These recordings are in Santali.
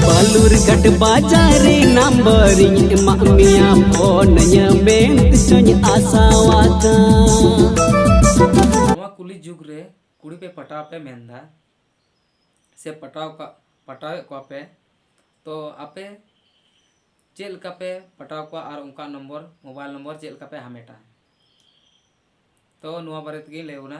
ᱵᱟᱞᱩᱨᱜᱷᱟᱴ ᱵᱟᱡᱟᱨᱤ ᱱᱟᱢᱵᱟᱨᱤᱧ ᱮᱢᱟᱜ ᱢᱮᱭᱟ ᱯᱷᱳᱱ ᱧᱟᱢᱮᱱ ᱛᱤᱥᱚᱧ ᱟᱥᱟᱣᱟᱠᱟ ᱱᱚᱣᱟ ᱠᱩᱞᱤ ᱡᱩᱜᱽ ᱨᱮ ᱠᱩᱲᱤ ᱯᱮ ᱯᱟᱴᱟᱣ ᱯᱮ ᱢᱮᱱᱫᱟ ᱥᱮ ᱯᱟᱴᱟᱣ ᱠᱟᱜ ᱯᱟᱴᱟᱣᱮᱫ ᱠᱚᱣᱟ ᱯᱮ ᱛᱚ ᱟᱯᱮ ᱪᱮᱫ ᱞᱮᱠᱟ ᱯᱮ ᱯᱟᱴᱟᱣ ᱠᱚᱣᱟ ᱟᱨ ᱚᱱᱠᱟ ᱱᱚᱢᱵᱚᱨ ᱢᱳᱵᱟᱭᱤᱞ ᱱᱚᱢᱵᱚᱨ ᱪᱮᱫ ᱞᱮᱠᱟ ᱯᱮ ᱦᱟᱢᱮᱴᱟ ᱛᱚ ᱱᱚᱣᱟ ᱵᱟᱨᱮ ᱛᱮᱜᱮᱧ ᱞᱟᱹᱭ ᱵᱚᱱᱟ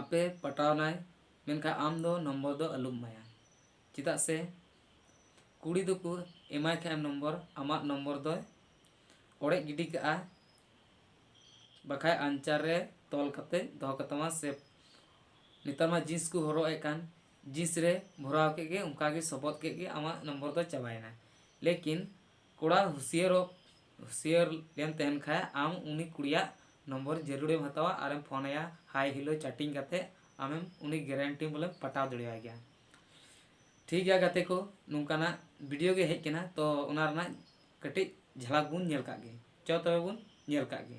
ᱟᱯᱮ ᱯᱟᱴᱟᱣ ᱱᱟᱭ ᱢᱮᱱᱠᱷᱟᱱ ᱟᱢ ᱫᱚ ᱱᱚᱢᱵᱚᱨ ᱫᱚ ᱟᱞᱚᱢ ᱮᱢᱟᱭᱟ ᱪᱮᱫᱟᱜ ᱥᱮ ᱠᱩᱲᱤ ᱫᱚᱠᱚ ᱮᱢᱟᱭ ᱠᱷᱟᱱ ᱮᱢ ᱱᱚᱢᱵᱚᱨ ᱟᱢᱟᱜ ᱱᱚᱢᱵᱚᱨ ᱫᱚᱭ ᱚᱲᱮᱡ ᱜᱤᱰᱤ ᱠᱟᱜᱼᱟ ᱵᱟᱠᱷᱟᱱ ᱟᱧᱪᱟᱨ ᱨᱮ ᱛᱚᱞ ᱠᱟᱛᱮᱫ ᱫᱚᱦᱚ ᱠᱟᱛᱟᱢᱟ ᱥᱮ ᱱᱮᱛᱟᱨ ᱢᱟ ᱡᱤᱱᱥ ᱠᱚ ᱦᱚᱨᱚᱜ ᱮᱫ ᱠᱟᱱ ᱡᱤᱱᱥ ᱨᱮ ᱵᱷᱚᱨᱟᱣ ᱠᱮᱫ ᱜᱮ ᱚᱱᱠᱟ ᱜᱮ ᱥᱚᱵᱚᱫ ᱠᱮᱫ ᱜᱮ ᱟᱢᱟᱜ ᱱᱚᱢᱵᱚᱨ ᱫᱚ ᱪᱟᱵᱟᱭᱮᱱᱟ ᱞᱮᱠᱤᱱ ᱠᱚᱲᱟ ᱦᱩᱥᱭᱟᱹᱨᱚᱜ ᱦᱩᱥᱤᱭᱟᱹᱨ ᱮᱢ ᱛᱟᱦᱮᱱ ᱠᱷᱟᱡ ᱟᱢ ᱩᱱᱤ ᱠᱩᱲᱤᱭᱟᱜ ᱱᱚᱢᱵᱚᱨ ᱡᱟᱹᱨᱩᱲ ᱮᱢ ᱦᱟᱛᱟᱣᱟ ᱟᱨ ᱮᱢ ᱯᱷᱳᱱ ᱟᱭᱟ ᱦᱟᱭ ᱦᱮᱞᱳ ᱪᱟᱴᱤᱝ ᱠᱟᱛᱮ ᱟᱢᱮᱢ ᱩᱱᱤ ᱜᱮᱨᱮᱱᱴᱤ ᱵᱚᱞᱮᱢ ᱯᱟᱴᱟᱣ ᱫᱟᱲᱮᱭᱟᱭ ᱜᱮᱭᱟ ᱴᱷᱤᱠ ᱜᱮᱭᱟ ᱜᱟᱛᱮ ᱠᱚ ᱱᱚᱝᱠᱟᱱᱟᱜ ᱵᱷᱤᱰᱤᱭᱳ ᱜᱮ ᱦᱮᱡ ᱠᱟᱱᱟ ᱛᱚ ᱚᱱᱟ ᱨᱮᱱᱟᱜ ᱠᱟᱹᱴᱤᱡ ᱡᱷᱟᱞᱟᱠ ᱵᱚᱱ ᱧᱮᱞ ᱠᱟᱜ ᱜᱮ ᱪᱚ ᱛᱚᱵᱮ ᱵᱚᱱ ᱧᱮᱞ ᱠᱟᱜ ᱜᱮ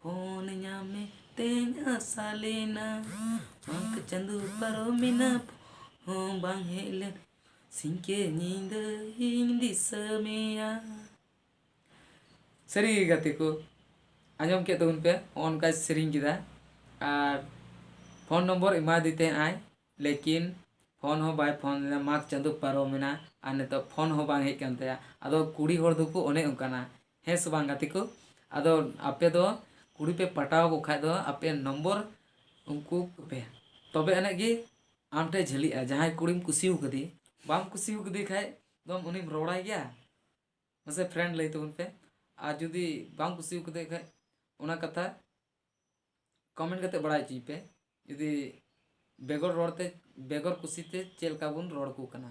ᱯᱷᱳᱱ ᱧᱟᱢᱮ ᱛᱮᱧ ᱟᱥᱟ ᱞᱮᱱᱟ ᱢᱟᱜᱽ ᱪᱟᱸᱫᱚ ᱯᱟᱨᱚᱢᱮᱱᱟ ᱦᱚᱸ ᱵᱟᱝ ᱦᱮᱡ ᱞᱮᱱ ᱥᱤᱧᱠᱮ ᱧᱤᱫᱟᱹ ᱤᱧ ᱫᱤᱥᱟᱹ ᱢᱮᱭᱟ ᱥᱟᱹᱨᱤ ᱜᱮ ᱜᱟᱛᱮ ᱠᱚ ᱟᱸᱡᱚᱢ ᱠᱮᱫ ᱛᱟᱵᱚᱱ ᱯᱮ ᱱᱚᱜᱼᱚ ᱱᱚᱝᱠᱟᱭ ᱥᱮᱨᱮᱧ ᱠᱮᱫᱟ ᱟᱨ ᱯᱷᱳᱱ ᱱᱚᱢᱵᱚᱨ ᱮᱢᱟᱫᱮ ᱛᱟᱦᱮᱸᱫ ᱟᱭ ᱞᱮᱠᱤᱱ ᱯᱷᱳᱱ ᱦᱚᱸ ᱵᱟᱭ ᱯᱷᱳᱱ ᱞᱮᱫᱟ ᱢᱟᱜᱽ ᱪᱟᱸᱫᱚ ᱯᱟᱨᱚᱢᱮᱱᱟ ᱟᱨ ᱱᱤᱛᱚᱜ ᱯᱷᱳᱱ ᱦᱚᱸ ᱵᱟᱝ ᱦᱮᱡ ᱟᱠᱟᱱ ᱛᱟᱭᱟ ᱟᱫᱚ ᱠᱩᱲᱤ ᱦᱚᱲ ᱫᱚᱠᱚ ᱚᱱᱮ ᱚᱱᱠᱟᱱᱟ ᱦᱮᱸ ᱥᱮ ᱵᱟᱝ ᱜᱟᱛᱮ ᱠᱚ ᱟᱫᱚ ᱟᱯᱮ ᱫᱚ ᱠᱩᱲᱤ ᱯᱮ ᱯᱟᱴᱟᱣ ᱠᱚ ᱠᱷᱟᱡ ᱫᱚ ᱟᱯᱮ ᱱᱚᱢᱵᱚᱨ ᱩᱱᱠᱩ ᱠᱚᱯᱮ ᱛᱚᱵᱮ ᱟᱹᱱᱤᱡ ᱜᱮ ᱟᱢ ᱴᱷᱮᱡ ᱡᱷᱟᱹᱞᱤᱜᱼᱟ ᱡᱟᱦᱟᱸᱭ ᱠᱩᱲᱤᱢ ᱠᱩᱥᱤ ᱟᱠᱟᱫᱮ ᱵᱟᱢ ᱠᱩᱥᱤ ᱟᱠᱟᱫᱮ ᱠᱷᱟᱡ ᱫᱚᱢ ᱩᱱᱤᱢ ᱨᱚᱲᱟᱭ ᱜᱮᱭᱟ ᱢᱟᱥᱮ ᱯᱷᱨᱮᱱᱰ ᱞᱟᱹᱭ ᱛᱟᱵᱚᱱ ᱯᱮ ᱟᱨ ᱡᱩᱫᱤ ᱵᱟᱢ ᱠᱩᱥᱤ ᱟᱠᱟᱫᱮ ᱠᱷᱟᱡ ᱚᱱᱟ ᱠᱟᱛᱷᱟ ᱠᱚᱢᱮᱱᱴ ᱠᱟᱛᱮ ᱵᱟᱲᱟᱭ ᱦᱚᱪᱚᱭ ᱯᱮ ᱡᱩᱫᱤ ᱵᱮᱜᱚᱨ ᱨᱚᱲ ᱛᱮ ᱵᱮᱜᱚᱨ ᱠᱩᱥᱤ ᱛᱮ ᱪᱮᱫ ᱞᱮᱠᱟ ᱵᱚᱱ ᱨᱚᱲ ᱟᱠᱚ ᱠᱟᱱᱟ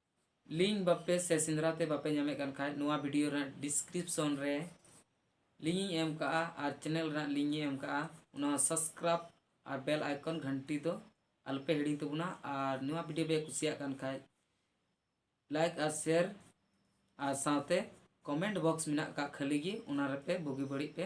ᱞᱤᱝᱠ ᱵᱟᱯᱮ ᱥᱮ ᱥᱮᱸᱫᱽᱨᱟ ᱛᱮ ᱵᱟᱯᱮ ᱧᱟᱢᱮᱫ ᱠᱟᱱ ᱠᱷᱟᱡ ᱱᱚᱣᱟ ᱵᱷᱤᱰᱤᱭᱳ ᱨᱮᱱᱟᱜ ᱰᱤᱥᱠᱨᱤᱯᱥᱚᱱ ᱨᱮ ᱞᱤᱝᱠ ᱤᱧ ᱮᱢ ᱠᱟᱜᱼᱟ ᱟᱨ ᱪᱮᱱᱮᱞ ᱨᱮᱱᱟᱜ ᱞᱤᱝᱠ ᱤᱧ ᱮᱢ ᱠᱟᱜᱼᱟ ᱚᱱᱟ ᱦᱚᱸ ᱥᱟᱵᱥᱠᱨᱟᱭᱤᱵ ᱟᱨ ᱵᱮᱞ ᱟᱭᱠᱚᱱ ᱜᱷᱟᱱᱴᱤ ᱫᱚ ᱟᱞᱚᱯᱮ ᱦᱤᱲᱤᱧ ᱛᱟᱵᱚᱱᱟ ᱟᱨ ᱱᱚᱣᱟ ᱵᱷᱤᱰᱤᱭᱳ ᱯᱮ ᱠᱩᱥᱤᱭᱟᱜ ᱠᱟᱱ ᱠᱷᱟᱡ ᱞᱟᱭᱤᱠ ᱟᱨ ᱥᱮᱭᱟᱨ ᱟᱨ ᱥᱟᱶᱛᱮ ᱠᱚᱢᱮᱱᱴ ᱵᱚᱠᱥ ᱢᱮᱱᱟᱜ ᱠᱟᱜ ᱠᱷᱟᱹᱞᱤ ᱜᱮ ᱚᱱᱟ ᱨᱮᱯᱮ ᱵᱩᱜᱤ ᱵᱟᱹᱲᱤᱡ ᱯᱮ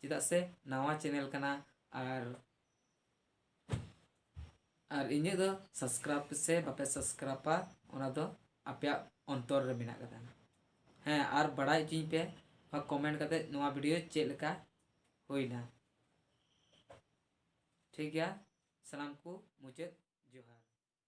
ᱪᱮᱫᱟᱜ ᱥᱮ ᱱᱟᱣᱟ ᱪᱮᱱᱮᱞ ᱠᱟᱱᱟ ᱟᱨ ᱟᱨ ᱤᱧᱟᱹᱜ ᱫᱚ ᱥᱟᱵᱥᱠᱨᱟᱭᱤᱵ ᱯᱮᱥᱮ ᱵᱟᱯᱮ ᱥᱟᱵᱥᱠᱨᱟᱭᱤᱵᱟ ᱚᱱᱟ ᱫᱚ ᱟᱯᱮᱭᱟᱜ ᱚᱱᱛᱚᱨ ᱨᱮ ᱢᱮᱱᱟᱜ ᱠᱟᱫᱟ ᱦᱮᱸ ᱟᱨ ᱵᱟᱲᱟᱭ ᱦᱚᱪᱚᱧ ᱯᱮ ᱵᱟ ᱠᱚᱢᱮᱱᱴ ᱠᱟᱛᱮ ᱱᱚᱣᱟ ᱵᱷᱤᱰᱤᱭᱳ ᱪᱮᱫ ᱞᱮᱠᱟ ᱦᱩᱭᱱᱟ ᱴᱷᱤᱠ ᱜᱮᱭᱟ ᱥᱟᱱᱟᱢ ᱠᱚ ᱢᱩᱪᱟᱹᱫ ᱡᱚᱦᱟᱨ